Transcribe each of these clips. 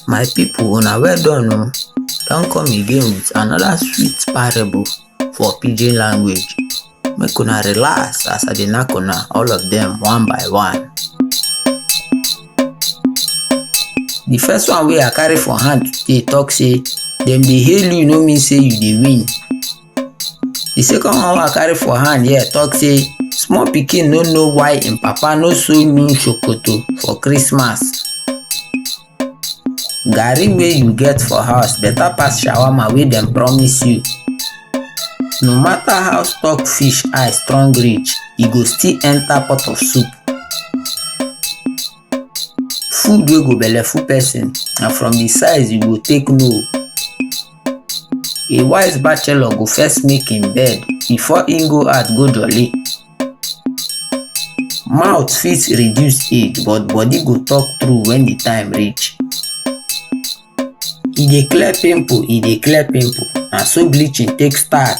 My people, una well done o. Don come again with another sweet parable for pidgin language. Make una relax as I dey knack una all of them one by one. The first one wey I carry for hand today talk say dem dey hail you no mean say you dey win. The second one wey I carry for hand here talk say small pikin no know why im papa no sew new sokoto for Christmas. Garri wey you get for house better pass shawarma wey dem promise you. No matter how stock fish eye strong reach, e go still enter pot of soup. Food wey go belleful person na from the size you go take know. A wise bachelor go first make im bed before im go out go jolly. Mouth fit reduce age but body go talk true when the time reach. E dey clear pimple, e dey clear pimple, na so bleaching take start.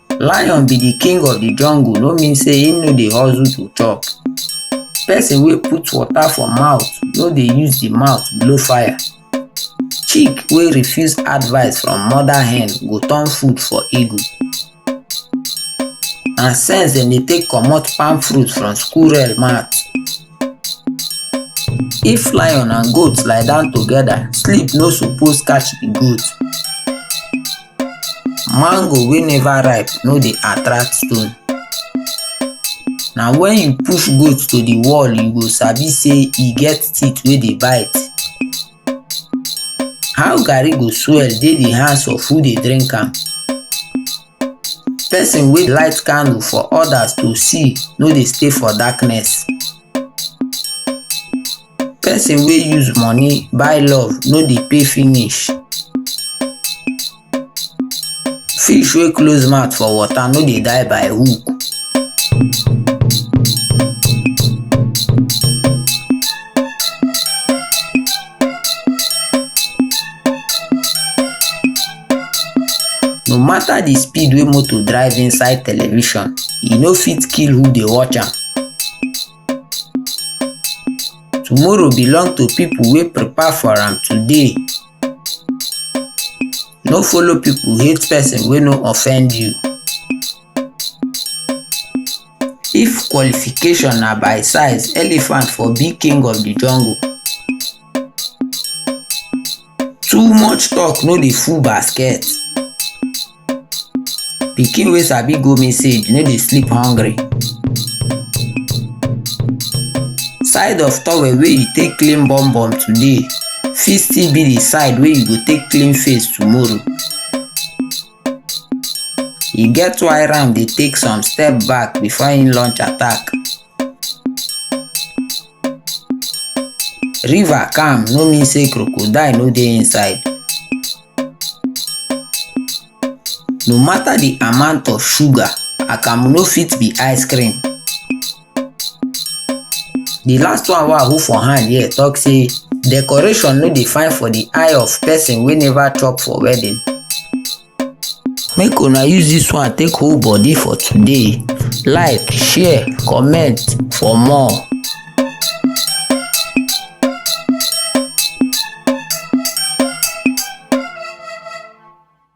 Lion be the king of the jungle no mean say him no dey hustle to chop. Person wey put water for mouth no dey use the mouth blow fire. Chick wey refuse advice from mother hen go turn food for eagle. Na sense dem dey take comot palm fruit from squirrel mouth. If lion and goat lie down together, sleep no suppose catch the goat. Mango wey never ripe no dey attract stone. Na when you push goat to the wall you go sabi say e get teeth wey dey bite. How garri go swell dey the hands of who dey drink am? Person wey light candle for others to see no dey stay for darkness. Person wey use money buy love no dey pay finish. Fish wey close mouth for water no dey die by hook. No matter the speed wey motor drive inside television, e no fit kill who dey watch am. Tomorrow belong to people wey prepare for am today. No follow people hate person wey no offend you. If qualification na by size, elephant for be king of the jungle. too much talk no dey full basket pikin wey sabi go message no dey sleep hungry side of towel wey you take clean bum bum today fit still be the side wey you go take clean face tomorrow e get why ram dey take some step back before im launch attack river calm no mean say crocodile no dey inside no matter the amount of sugar akamu no fit be ice cream the last one wey i hold for hand here talk say decoration no dey fine for the eye of person wey never chop for wedding make una use this one take hold body for today like share comment for more.